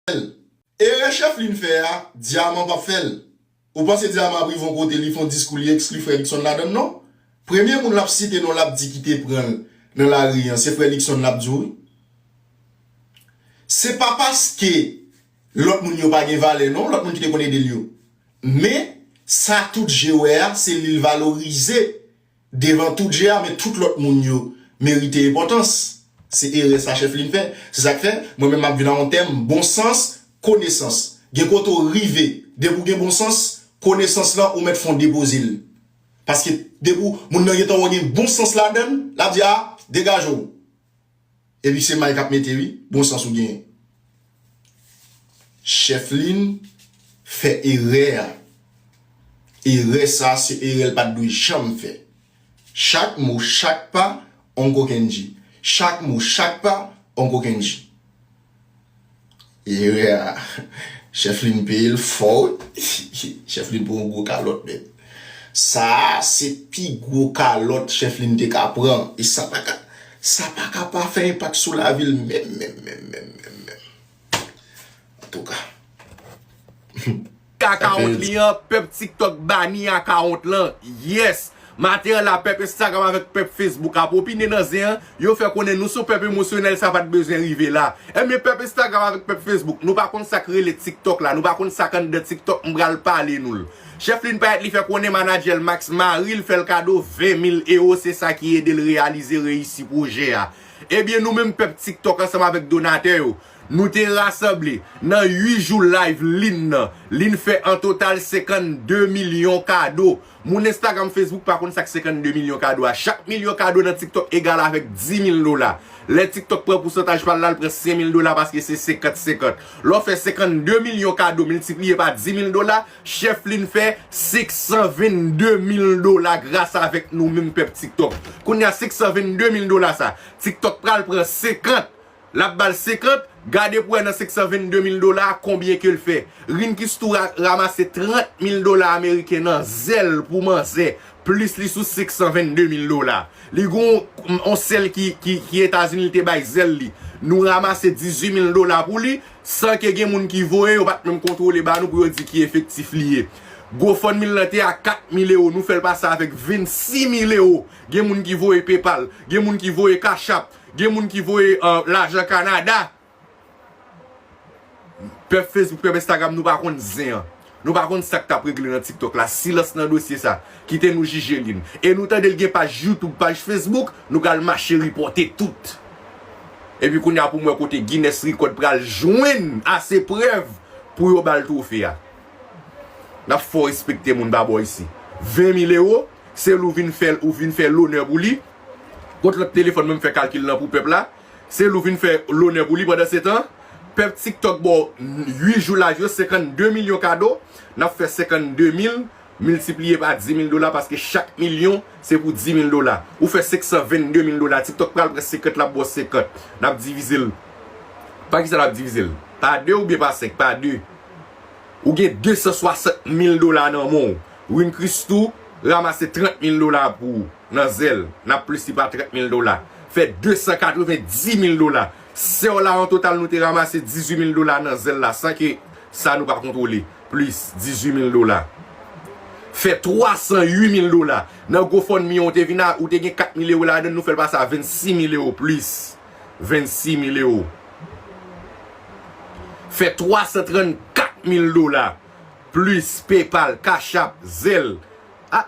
fèl. Erè Chefline fè a, Diamant pap fèl. Ou panse Diamant ap rive yon kote li fon diskou li ekskli frè Luckson ladann non. Premye moun lap site non lap di ki te pranl nan lari an se frè Luckson lap di wi. Se pa paske lòt moun yo pa gen valè non, lòt moun ki te konn edel yo. Men sa tout je wè a se lil valorize. Devan tout je a men tout lòt moun yo merite enpòtans. Se erè sa Chèflin fè. Se sa k fè, mwen menm m ap vin a yon tèm, bon sans, konesans. Gen kote ou rive, depi ou gen bon sans, konesans lan ou mèt fè yon depoze l. Paske depi w, moun nan gen tan wè gen bon sans ladan l, l ap di a, degaje w. Epi se may kap mete wi, bon sans ou genyen. Chefline fè erè a. Erè sa se erè l pat dwe janm fè. Chak mo chak pa on kokenn di. Chak mo chak pa on kokenn di. Erè a chèf Lynn peye l fò wi chèf Lynn pran yon gwo kalòt nèt sa a se pi gwo kalòt chèf Lynn te ka pran e sa pa ka sa pa ka pa fè enpak sou lavi l menm menm menm menm menm antouka. Akawont li an pèp tiktok bani akawont lan yes maten la pèp instagram avèk pèp facebook ap opine nan zen an yo fè konnen nou son pèp emosyonèl sa pat bezwen rive la ebyen pèp instagram avèk pèp facebook nou pa konn sak rele tiktok la nou pa konn sak anndan tiktok m pral pale nou l chèf li n payèt li fè konnen manadjè l max mari l fèl kado 20 mil ewo se sa ki ede l reyalize reyisi pwojè a ebyen nou menm pèp tiktok ansanm avèk donatè yo Nou te rasanble, nan 8 jou layv Lynn nan, Lynn fè an total 52 milyon kado. Moun Instagram, Facebook pa konn sa k 52 milyon kado a. Chak milyon kado nan TikTok egal avèk 10 mil dola. Lè TikTok pran pousantaj pa l la, l pran 5 mil dola paske se 50, 50. Lè w fè 52 milyon kado miltipliye pa 10 mil dola, chèf Lynn fè 522 mil dola gras avèk nou menm pèp TikTok. Kounye a 522 mil dola sa, TikTok pral pran 50 Lap bal 50, gade pou wè nan 522 mil dola a konbyen kel fè. Rin Kistura ramase 30 mil dola ameriken nan zèl pou manzè, plis li sou 522 mil dola. Li gon on sèl ki Etazini li te bay zèl li. Nou ramase 18 mil dola pou li, san ke gen moun ki voye yo pat menm kontwole ba nou pou yo di ki efektif li ye. Gofundme l lan te a 4 mil ewo, nou fèl pase avèk 26 mil ewo. Gen moun ki voye PayPal, gen moun ki voye Cash App. Gen moun ki voye lajan Canada. Pèp Facebook pèp Instagram nou pa konn zen an. Nou pa konn sak tap regle nan tiktok la. Silans nan dosye sa. Kite nou jije li. E nou tande l gen paj YouTube paj Facebook nou pral mache ripote tout. Epi kounya pou m wè kote Guinness record pral jwenn ase prèv pou yo bal trofe a. Nap fè w respekte moun pa bo isi. 20 mil ewo se l ou vin fè l ou vin fè lonè pou li Kot lòt telefòn menm fè kalkil lan pou pèp la, se lou vin fè lonè pou li pandan se tan pèp tik tòk baw 8 jou live yo 52 milyon kado nap fè 52 mil miltipliye pa 10 mil dola paske chak milyon se pou 10 mil dola ou fè 522 mil dola tik tòk pral pran 50 lap baw 50 nap divizel pa kisa nap divizel pa 2 oubyen pa 5 pa 2 ou gen 260 mil dola nan menw Runchrist tou ramase 30 mil dola pou ou. nan zèl nan plis li pa 30 mil dola fè 290 mil dola sèw la an total nou te ramase 18 mil dola nan zèl la san ke sa nou pa kontwole plis 18 mil dola fè 308 mil dola nan gofundme an ou te vin a ou te gen 4 mil ewo ladann nou fèl pase a 26 mil ewo plis 26 mil ewo fè 334 mil dola plis paypal cash app zèl ah.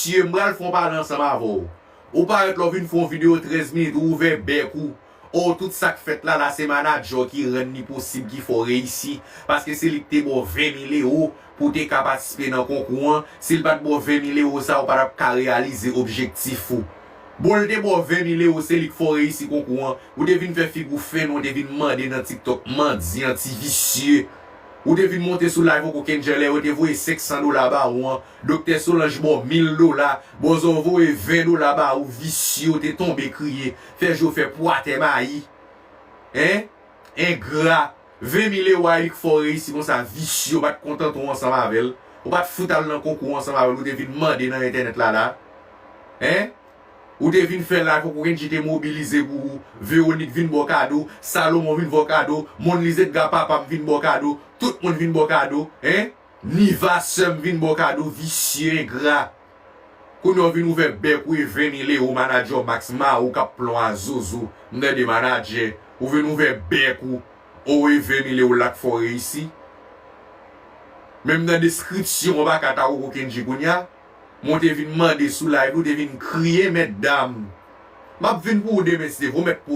Cieu m pral fè yon pale ansanm avè w Ou parèt la w vin fè yon video 13 minit ou ouvè bèk ou Oh tout sak fèt la la se manager w ki rann li posib ki fè w reyisi paske se li ki te ba w 20 mil ewo pou w te ka patisipe nan konkou an si l pat ba w 20 mil ewo sa ou pa tap ka reyalize objektif ou Bon l te ba w 20 mil ewo se li ki fè w reyisi konkou an ou te vin fè figi w fen ou te vin mande nan tiktok mandyan ti visye ou te vin monte sou live ou kokenn jè lè yo te voye 500 dola ba ou an Doktè solanj bò mil dola bòzò voye 20 dola ba ou visye ou te tonbe kriye fè je w fè pwa tè mayi hein engra 20 mil ewo a lik fè w reyisi konsa visye ou pat kontante w ansanm avèl ou pat fout al nan konkou ansanm avèl ou te vin mande nan entènèt la la hein ou te vin fè la fòk ou kndji te mobilize pou ou vewonik vin ba w kado salomon vin vè w kado monliz edga papa m vin ba w kado tout moun vin ba w kado hein. Niva sèm vin baw kado visye engra kounya ou vin ouvè bèk ou e vini le ou manager w max ma ou kap plon a zozo mnde de manager ou vin ouvè bèk ou ou e vini le ou la k fè w reyisi menm nan deskripsyon ou paka ta koko kendji kounya mwen te vin mande sou live ou te vin kriye mètdam map vin pou ou demen se vou mèt pou